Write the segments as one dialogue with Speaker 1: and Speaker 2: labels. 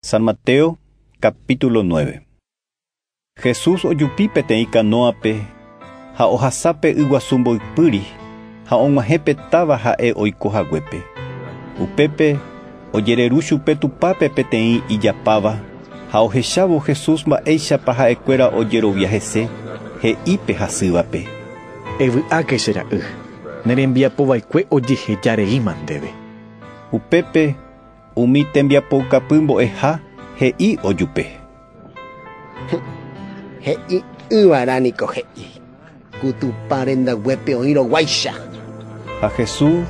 Speaker 1: San Mateo capítulo 9. Jesús ojupi peteĩ kanóape ha ohasa pe yguasu mboypýri ha og̃uahẽ pe táva ha'e oiko haguépe. Upépe ojereru chupe Tupãpe peteĩ ijapáva ha ohechávo Jesús mba'éichapa ha'ekuéra ojerovia hese, he'i pe hasývape: Evy'áke che ra'y, ne rembiapo vaikue ojeheja reíma ndéve. Upépe Umi tembiapoukapy mbo'eha he'i ojupe: “He'i'ỹva'erã niko he'i: ‘Ku Tupã rendaguépe oĩ roguáicha’”. Ha Jesús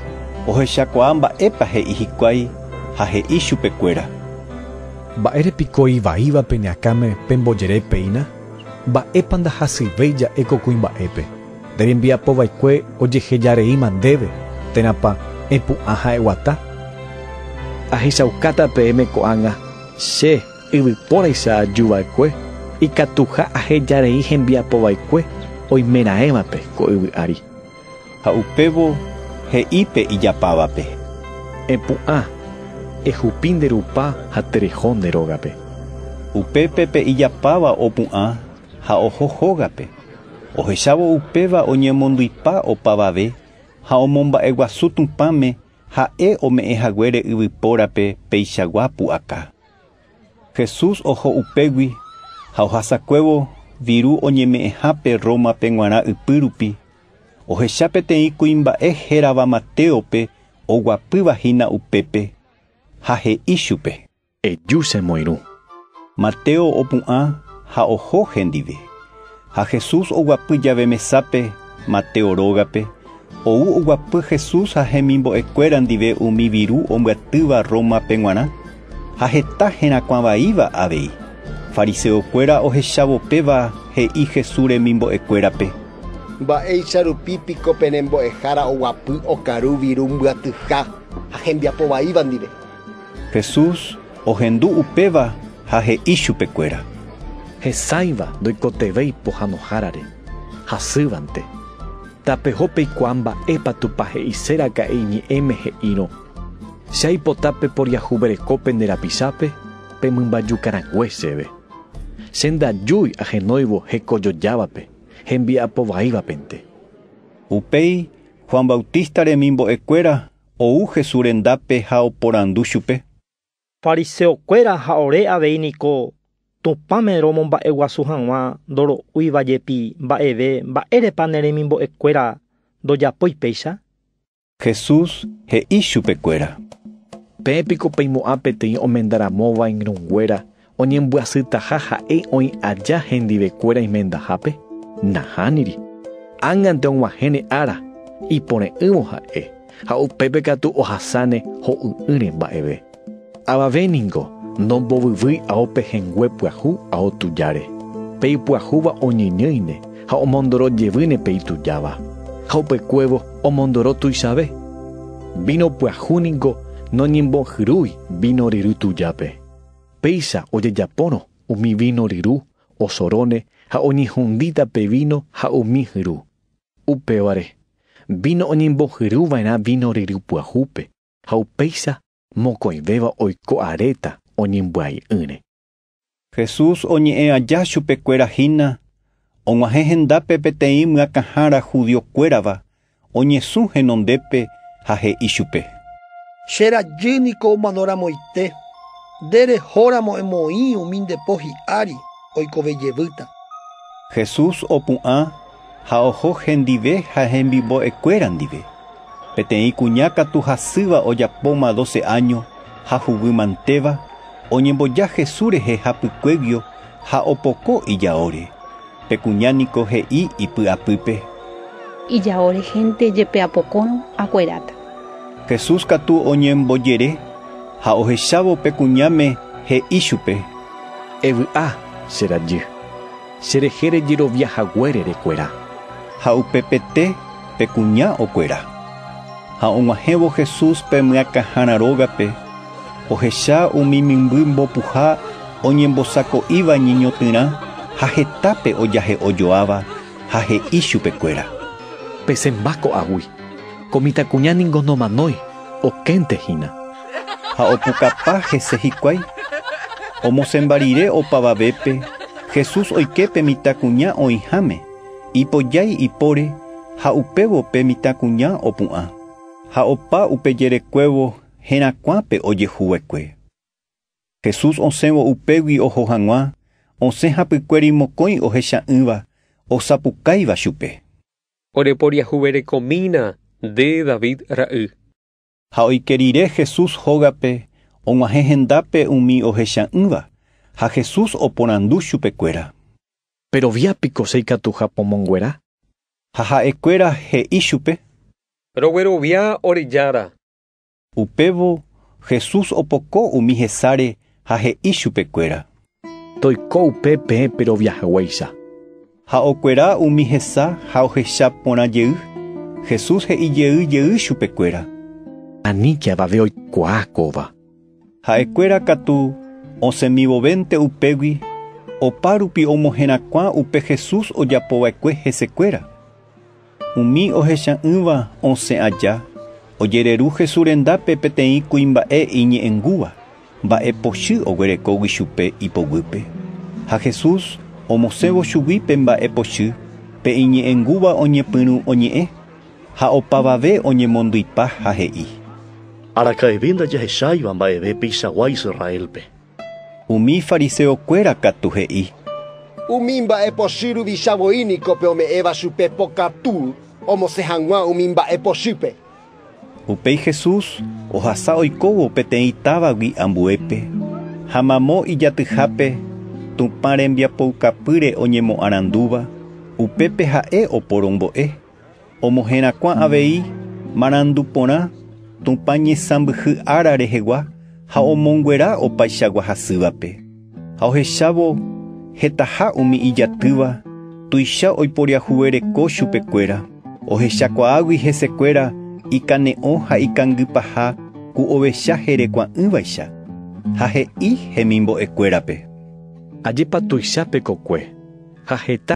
Speaker 1: ohechakuaa mba'épa he'i hikuái ha he'i chupekuéra: “Mba'ére piko ivaíva pene akãme pembojere péina? Mba'épa ndahasyivéi ja'e ko kuimba'épe? Nde rembiapo vaikue ojeheja reíma ndéve, térãpa epu'ã ha eguata? Ahechaukáta peẽme ko'ág̃a, che, yvypóraicha aju va'ekue, ikatuha aheja rei hembiapo vaikue oimeraẽvape ko yvy ári. Ha upévo he'i pe ijapávape. Epu'ã, ehupi nde rupa ha tereho nde rógape. Upépe pe ijapáva opu'ã ha oho hógape. Ohechávo upéva oñemondypa opavave ha omomba'eguasu Tupãme Ha'e ome'ẽ haguére yvypórape peichagua pu'aka. Jesús oho upégui ha ohasakuévo viru oñeme'ẽhápe Rómape g̃uarã ypy rupi, ohecha peteĩ kuimba'e hérava Matéope oguapýva hína upépe, ha he'i chupe. Eju che moirũ. Mateo opu'ã ha oho hendive. Ha Jesús oguapy jave mesápe Mateo rógape, ou oguapy Jesús ha hemimbo'ekuéra ndive umi viru ombyatýva Rómape g̃uarã, ha heta herakuã vaíva avei. Fariseokuéra ohechávo péva he'i Jesús remimbo'ekuérape. Mba'éicha rupi piko pe rembo'ehára oguapy okaru viru mbyatyha ha hembiapo vaíva ndive? Jesús ohendu upéva ha he'i chupekuéra. Hesáiva ndoikotevẽi pohãnohárare, hasývante. Tapeho peikuaa mba'épa Tupã he'ise raka'e iñe'ẽme he'írõ, Che aipota peporiahuvereko pende rapichápe pe mymbajúka rãgue chéve. Che ndajúi ahenóivo hekojojávape hembiapo vaívapente. Upéi Juan Bautista remimbo'ekuéra Ou Jesús rendápe ha oporandu chupe. Fariseokuéra ha ore avei niko Tupãme romomba'eguasu hag̃ua ndoro'úiva jepi mba'eve mba'érepa ne remimbo'ekuéra ndojapói péicha? Jesús he'i chupekuéra. Peẽ piko peimo'ã peteĩ omenda ramóva iñrũnguéra Oñembyasytaha ha'e oĩ aja hendivekuéra imendahápe? Nahániri. Ág̃ante og̃uahẽne ára, ipore'ỹvo ha'e, ha upépe katu ohasáne ho'y'ỹre mba'eve. Avave ningo ndombovyvýi ao pehẽngue pyahu ao tujáre. Pe ipyahúva oñeñýine ha omondoro jevýne pe itujáva, ha upekuévo omondoro tuichave. Víno pyahu ningo noñembohyrúi víno ryry tujápe. Péicha ojejapórõ umi víno ryru, osoróne ha oñehundíta pe víno ha umi hyru. Upévare, víno oñembohyru va'erã víno ryru pyahúpe, ha upéicha mokõivéva oiko aréta oñembyai'ỹre. Jesús oñe'ẽ aja chupekuéra hína, og̃uahẽ hendápe peteĩ myakãhára judiokuérava oñesũ henondépe ha he'i chupe. Che rajy niko omanoramoite, nde rehóramo emoĩ umi nde po hi'ári oikove jevýta. Jesús opu'ã ha oho hendive ha hemimbo'ekuéra ndive. Peteĩ kuña katu hasýva ojapóma doce áño ha huguy mantéva, oñemboja Jesús rehe hapykuéguio, ha opoko ijaóre, pe kuña niko he'i ipy'apýpe. Ijao rehénte jepe apokórõ, akueráta. Jesús katu oñembojere ha ohechávo pe kuñáme he'i chupe. Evy'a, che rajy, che rehe rejerovia haguére rekuera. Ha upepete pe kuña okuera. Ha og̃uahẽvo Jesús pe myakãhára rógape. Ohecha umi mymby mbopuha oñembosako'íva ñeñotỹrã ha hetápe ojahe'ojoáva ha he'i chupekuéra. Pesẽmba ko'águi. Ko mitãkuña ningo nomanói, okénte hína. Ha opukapa hese hikuái. Omosẽmba rire opavavépe, Jesús oike pe mitãkuña oĩháme, ipojái ipóre ha upévo pe mitãkuña opu'ã. Ha opa upe jerekuévo herakuãpe ojehu va'ekue. Jesús osẽvo upégui oho hag̃ua osẽ hapykuéri mokõi ohecha'ỹva osapukáiva chupe. Ore poriahuverekomína nde David ra'y. Ha oike rire Jesús hógape og̃uahẽ hendápe umi ohecha'ỹva, ha Jesús oporandu chupekuéra. Perovia piko che ikatuha pomonguera? Ha ha'ekuéra he'i chupe. Roguerovia ore Jára. Upévo Jesús opoko umi hesáre ha he'i chupekuéra. Toiko upe peẽ péro viajeguéicha. Ha okuera umi hesa ha ohecha porã jey, Jesús he'i jey jey chupekuéra. Aníke avave oikuaa kóva. Ha'ekuéra katu osẽmivovénte upégui opárupi omoherakuã upe Jesús ojapo va'ekue hesekuéra. Umi ohecha'ỹva osẽ aja ojereru Jesús rendápe peteĩ kuimba'e iñe'ẽngúva, mba'e pochy oguerekógui chupe ipoguýpe. Ha Jesús omosẽvo chugui pe mba'e pochy, pe iñe'ẽngúva oñepyrũ oñe'ẽ. Ha opavave oñemondypa ha he'i. Araka'eve ndajahecháiva mba'eve peichagua Israélpe. Umi fariséo kuéra katu he'i. Umi mba'e pochy ruvicha voi niko pe ome'ẽva chupe pokatu omosẽ hag̃ua umi mba'e pochýpe. Upéi Jesús ohasa oikóvo peteĩ távagui ambuépe, ha mamo ijatyhápe Tupã rembiapoukapýre oñemoarandúva, upépe ha'e oporombo'e. Omoherakuã avei marandu porã Tupã ñesãmbyhy ára rehegua ha omonguera opaichagua hasývape. Ha ohechávo hetaha umi ijatýva tuicha oiporiahuvereko chupekuéra, ohechakuaágui hesekuéra ikane'õ ha ikangy paha ku ovecha herekuã'ỹvaicha. Ha he'i hemimbo'ekuérape: Ajépa tuicha pekokue ha heta!